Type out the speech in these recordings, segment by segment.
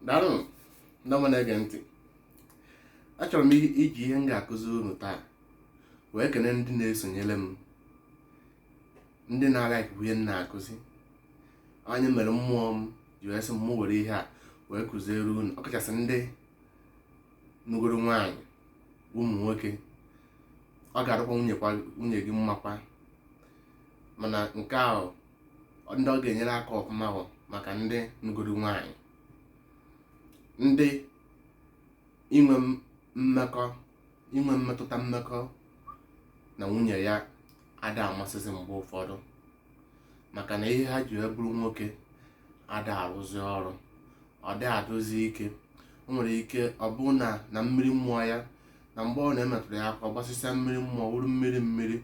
daalụ ndị ọma na-ege ntị achọrọ m i- iji ihe m ga-akụzi unu taa wee kene ndị na-esonyere m ndị na-alaik bụ ihe m na-akụzi ọ ya mere mmụọ m ji wee sị m mụ were ihe a wee kụziere unu ọkachasị ndị nụgoro nwaanyị ụmụ nwoke ọ ga-adịkwa nwunye kwa- nwunye gị mmakwa mana nke ahụ ndị ọ ga-enyere aka ọfụma bụ maka ndị nụgoro nwaanyị ndị inwe mmekọ inwe mmetụta mmekọ na nwunye ya ada amasịzi mgbe ụfọdụ maka na ihe ha ji wee bụrụ nwoke ada arụzi ọrụ ọ da adụzi ike o nwere ike ọ bụ na na mmiri mmụọ ya na mgbe ọ na-emetụrụ ya aka ọ gbasịsịa mmiri mmụọ wụrụ mmiri mmiri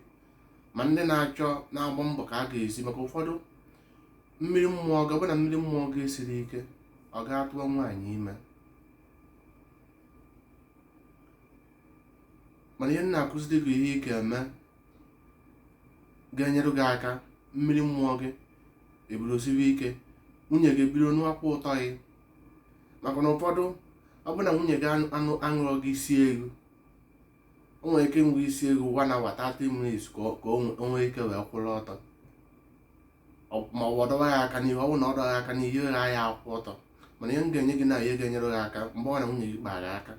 ma ndị na-achọ na-agba mbọ ka a ga-esi maka ụfọdụ mmiri mmụọ gị ọ bụ na mmiri mmụọ gị siri ike ọ ga-atụọ nwaanyị ime mana ihe m na-akụziri gị ihe ị ga-eme ga-enyere gị aka mmiri mmụọ gị ebiro siwe ike nwunye gị biro nụwakwa ụtọ gị maka na ụfọdụ ọ bụ na nwunye gị aṅụrọ gị isi ego o nwere ike ṅụwa isi ego one hour 30 minutes ka o- ka o nwe- o nwee ike wee kwụrụ ọtọ Ọ- ma ọ bụ ọ dọwa ya aka n'ihu ọ bụrụ na ọ dọwa ya aka n'ihu ihe gha ya akwụ ọtọ mana ihe m ga-enye gị na ihe ga-enyere gị aka mgbe ọ na nwunye gị kpara aka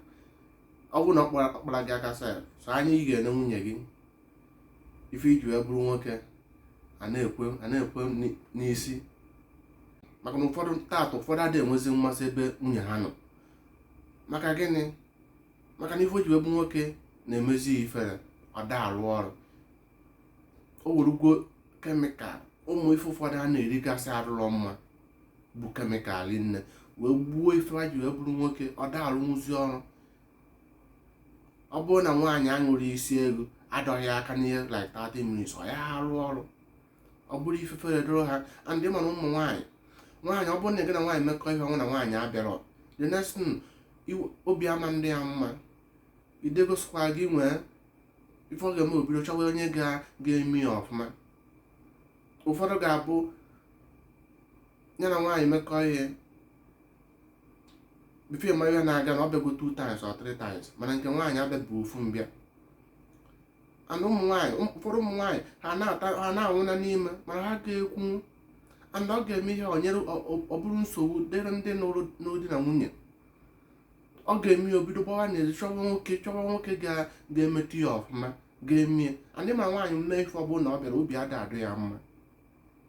ọ bụrụ na ọ kpara- ọ kpara gị aka sef sọ anya ị ga-ene nwunye gị ife i ji wee bụrụ nwoke ana-ekwe ana-ekwe n'i- n'isi maka na ụfọdụ taata ụfọdụ adịghị enwezi mmasị ebe nwunye ha nọ maka gịnị maka na ife o ji wee bụ nwoke na-emezi ya ifere ọ da arụ ọrụ o werugwo chemical ụmụ ife ụfọdụ a na-erigasị arụrọ mma bụ chemical niine wee gbuo ife ha ji wee bụrụ nwoke ọ da arụnwụzi ọrụ ọ bụrụ na nwaanyị aṅụrọ isi ego adọghị aka n'ihe like 30 minutes ọ ya arụ ọrụ ọ bụrụ ifefere doro ha and mana ụmụ nwaanyị nwaanyị ọ bụrụ na gị na nwaanyị mekọ ihe ọ bụ na nwaanyị abịarọ the next thing obi ama adị ya mma idegosikwa gị nwee ife ọ ga-eme o bido chọwa onye ga-eme ya ọfụma ụfọdụ ga-abụ ya na nwaanyị mekọ ihe before ị ma ihe na-aga na ọ bịago two times or three times mana nke nwaanyị abịabu ofu mbịa and ụmụ nwaanyị ụfọdụ ụmụ nwaanyị ha na-ata ha na-anwụ na n'ime mana ha ga-ekwu and ọ ga-eme ihe ọ nyere ọ- ọ- ọ bụrụ nsogbu dịrị ndị nụrụ di na nwunye ọ ga-eme ya o bido gbawa n'ezi chọwa nwoke chọwa nwoke ga- ga-emetụ ya ọfụma ga-eme ya and ị ma nwaanyị mee ife ọbụla na ọ bịarọ obi ada adụ ya mma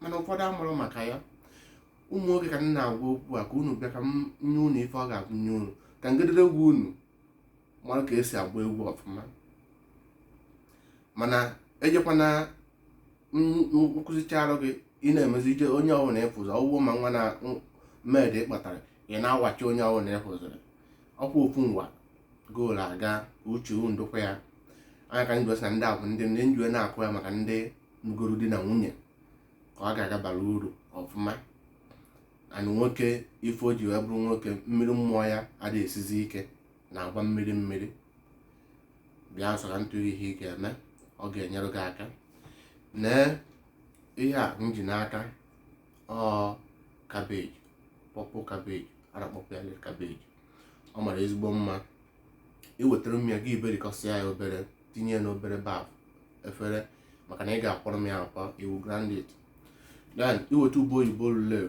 mana ụfọdụ amụrọ maka ya ụmụ nwoke ka m na-agwa okwu a ka unu bịa ka m nye unu ife ọ ga-agụnye unu ka ngederegwu unu mara ka e si agba egwu ọfụma mana ejekwana m kụzicharụ gị ị na-emezi ije onye ọbụla ịfụzụ ọgwụgwọ ma nwa na maid ị kpọtara ị na-awachi onye ọbụla ị fụzụrụ ọkwa ofu ngwa goolu aga uche ndokwa ya anya ka njọ na ndị a bụ ndị ndị m ji wee na-akụ ya maka ndị nụgoro di na nwunye ka ọ ga-abara uru ọfụma and nwoke ife o ji wee bụrụ nwoke mmiri amụ ya ada esizi ike na-agba mmiri mmiri bịa nso ka m tụọ ihe ị ga-eme ọ ga-enyere gị aka nee ihe a m ji n'aka ọ cabbage purple cabbage a na-akpọkwu ya red cabbage ọ mara ezigbo mma i wetara m ya ị ga-eberikọsịa ya obere tinye ya n'obere baf efere maka na ị ga-akwọrọ m ya akwọ you grind it then i weta ube oyibo lule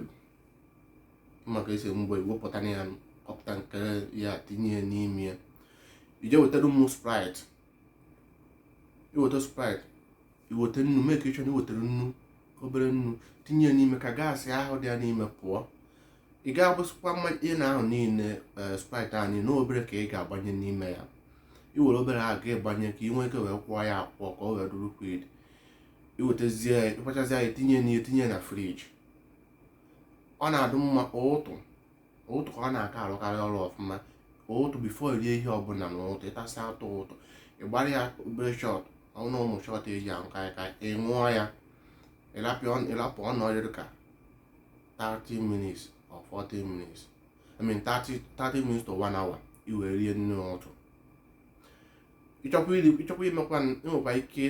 maka esi mgbe i wepụta ya kọpụta nke ya tinye ya n'ime ya i jee wetara m sprite i weta sprite i weta nnu mee ka ịchọrọ iwetara nnu obere nnu tinye ya n'ime ka gas ahụ dị ya n'ime pụọ ị ga-agbasịkwa mmanya ahụ niile eh, sprite ahụ niile obere ka ị ga-agbanye n'ime ya i were obere ahụ ga ịgbanye ka ị nwee ike wee kwọọ ya akwọ ka ọ wee dụ liquid i wetazie ị kwọchazie ya tinye na tinye na fridge ọ na-adụ mma ụtụ ụtụ ka ọ na-aka arụkarị ọrụ ọfụma ụtụ before i rie ihe ọbụla na ụtụ ị tasịa atụ ụtụ ị gbara ya obere shot n'ụmụ shot e ji aṅụ kaịkaị ị ṅụọ ya ị rapụ ọ nọ dịrị ka 30 minutes or 40 minutes I mean 30, 30 minutes to 1 hour i wee rie nri ụtụ ị chọkwa i mekwa i nwekwa ike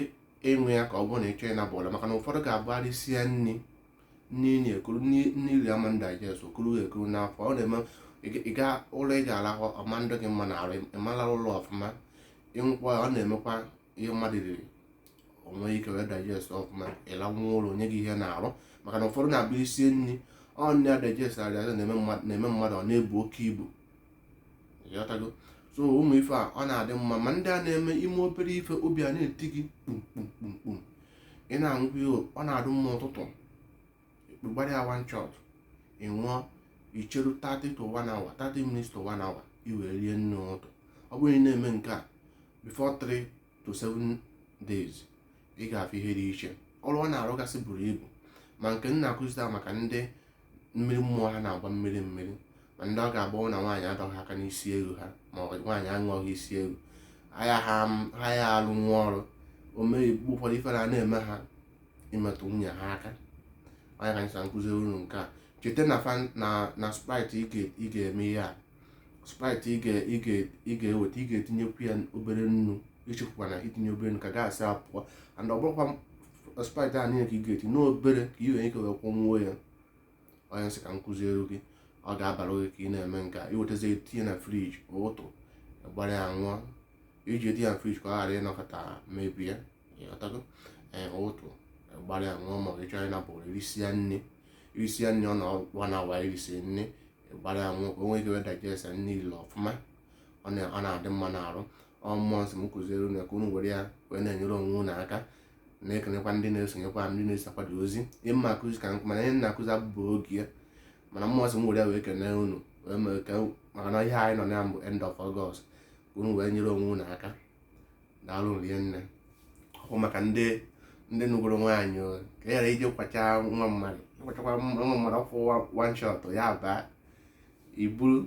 ịṅụ ya ka ọ bụrụ na ị chọ ịnaba ụla maka na ụfọdụ ga-abụ ha risịa nri nri na-ekuru nri i ri ama digest o kuru ekuru n'afọ ọ na-eme ị ga ụla ị ga-arahụ ọ ma adị gị mma n'arụ ị ma ala ụla ọfụma ị ṅụkwa ọ na-emekwa ihe mmadụ riri o nwee ike wee digest ọfụma ị lanwụ ụla o nye gị ihe n'arụ maka na ụfọdụ na-abụ i risie nri ọ nne ya digest arịaza na-eme mmadụ ọ na-ebu oke ibu ị ghọtago so ụmụ ife a ọ na-adị mma ma ndị a na-eme i mee obere ife obi a na-eti gị kpumkpumkpumkpum ị na-aṅụkwa ihe ọ na-adụ mma ụtụtụ gbara ya one shot ị ṅụọ icheru 30 to 1 hour 30 minutes to 1 hour i wee rie nri ụtụtụ ọ bụrụ ị na-eme nke a before 3 to 7 days ị ga-afụ ihe dị iche ọrụ ọ na-arụgasị buru ibu ma nke m na-akụzi taa maka ndị mmiri ọmụmụ ha na-agba mmiri mmiri ma ndị ọ ga-abụ na nwaanyị adọghị aka n'isi ara ha ma ọ bụ nwaanyị aṅụghị isi ara ha ya ha ha ya arụnwu ọrụ o mee mgbe ụfọdụ ifere a na-eme ha imetụ nwunye ha aka onye ka anyị sị m kụziere unu nke a cheta na fan na na sprite ị ga- ị ga-eme ihe a sprite ị ga- ị ga- ị ga-eweta ị ga-etinyekwu ya obere nnu echefukwana itinye obere nnu ka gas a pụọ and ọ bụrọkwa sprite a niile ka ị ga-etinye obere ka ị nwere ike wee kwụnwuo ya onye sị ka m kụziere gị ọ ga-abara gị ka ị na-eme nke a iwetazie tinye na friji ụtụtụ gbara ya ṅụọ iji etinye ya na friji ka ọ ghara ịnọkata mebie ịghọtago ee ụtụtụ gbara ya ṅụọ ma ọ bụ ịchọrọ ịnakpu i risia nri i risia nri ọ nọkwa 1 hour i risiri nri gbara ya ṅụọ ka o nwee ike wee digest nri niile ọfụma ọ na- ọ na-adị mma n'arụ ọ mmụọ sị m kụziere unu ya ka unu were ya wee na-enyere onwe unu aka na-ekenekwa ndị na-esonyekwa ndị na-eso akwado ozi ihe m na-akụzi ka nkụ mana ihe na-akụzi abụbụ oge ya mana mmụọ sị m were ya wee kene unu wee mee ka maka na ihe anyị nọ na ya bụ end of August ka unu wee nyere onwe unu aka daalụ rinne ọ bụ maka ndị ndị nụgoro nwaanyị o, ka e ghara ije kwacha nwa mmadụ ịkwachakwa nwa mmadụ ofu one shot ya baa iburu